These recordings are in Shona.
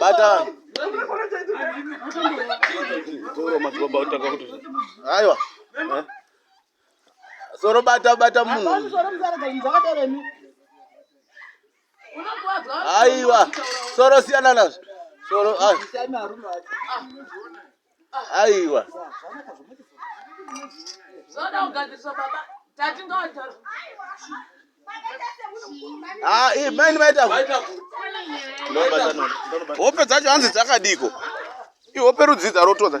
Batani. Toro madzibaba otaka kuti. Aiwa. Eh? Soro bata bata munhu. Aiwa. Soro siyana nazvo. Soro. Ah. aiwa ah, eh, maini vaita hope dzacho hanzi dzakadiko ihope rudzidza rotodza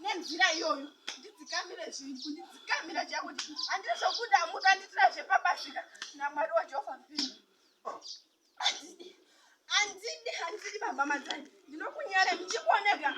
nenzira iyoyo ndidzikamire zvinhu kundidzikamira chakuti handiri zvokuda muka nditira zvepabasika namwari wajehovha mupini handidi handidi baba madzani ndinokunyare muchikuoneka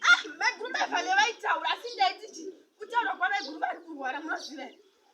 ah, maiguru mevale vaitaura asi ndaititi kutaura kwamaiguru vari kurwara munoziva here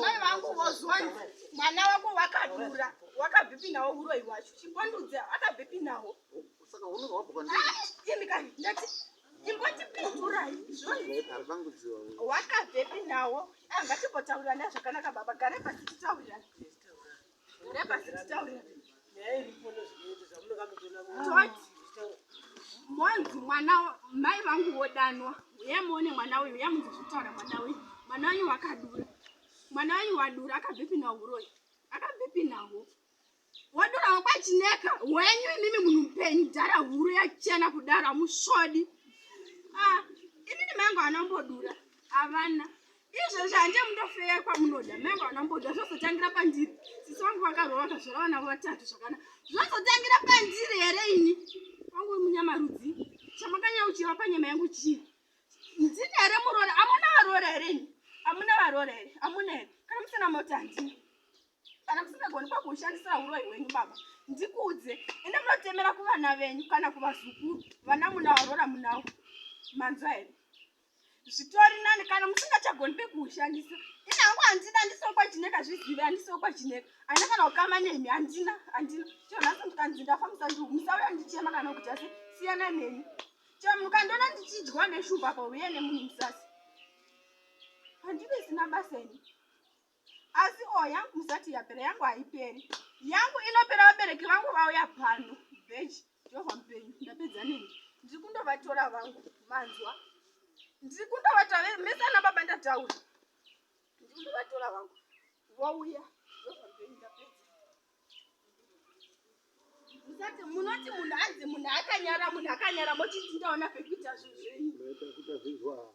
mai vangu vozwani mwana wako wakadura wakabhipi nawo uroyi wacho chimbondudza akabhipi nawo Saka unenge wabva kwandiri. Imi kani ndati imbotipindurai. Aripangudziwa uyu. Wakabvepi nawo? Ah, Ngatimbotaurirana zvakanaka baba. Gare pasi titaurirane. Gare pasi titaurirane. Toti monzi mwana wa- mai vangu vodanwa uye muone mwana uyu uye munzi zvitaura mwana uyu mwana uyu wakadura mwana uyu wadura akabvepi nawo uroyi akabvepi nawo Wadura wakwachineka wenyu imimi munhu mupenyu dhara huru yachena kudaro hamusvodi. Ah, inini mangu anombodura havana izvezvi hande mundofeya kwamunoda mangu anombodura zvozotangira pandiri sisi vangu vakarova kazvara vana vatatu zvakana zvozotangira pandiri here ini wangu munyamarudzi chamakanyauchira panyama yangu chii ndini here muroora amuna varoora here ini amuna varoora here amuna here kana musina mota handii kana musingagoni kwakuushandisira huroyi hwenyu baba ndikuudze ende munotemera kuvana venyu kana kuvazukuru vana munawarora munawo manzwa here zvitori nani kana musingachagoni pekuushandisa ini hangu handina ndisokwa chineka zvizive handisokwa chineka handina kana kukama nemi handina handina chio nhasi ndikanzi ndafa musandiu musauya ndichema kana kuti asi siyana neni chio mukandiona ndichidyiwa neshuva pauye nemunhu musasi handive sina basa ini asi o oh, yangu musati yapera yangu haiperi yangu inopera vabereki vangu vauya pano beji jehovha mupenyu ndapedza nini ndiri kundovatora vangu manzwa ndiri kundovatora mese ana baba ndataura ndiri kundovatora vangu vouya jehovha mupenyu ndapedza musati munoti munhu anzi munhu akanyara munhu akanyara mochiti ndaona pekuita zvinhu zvenyu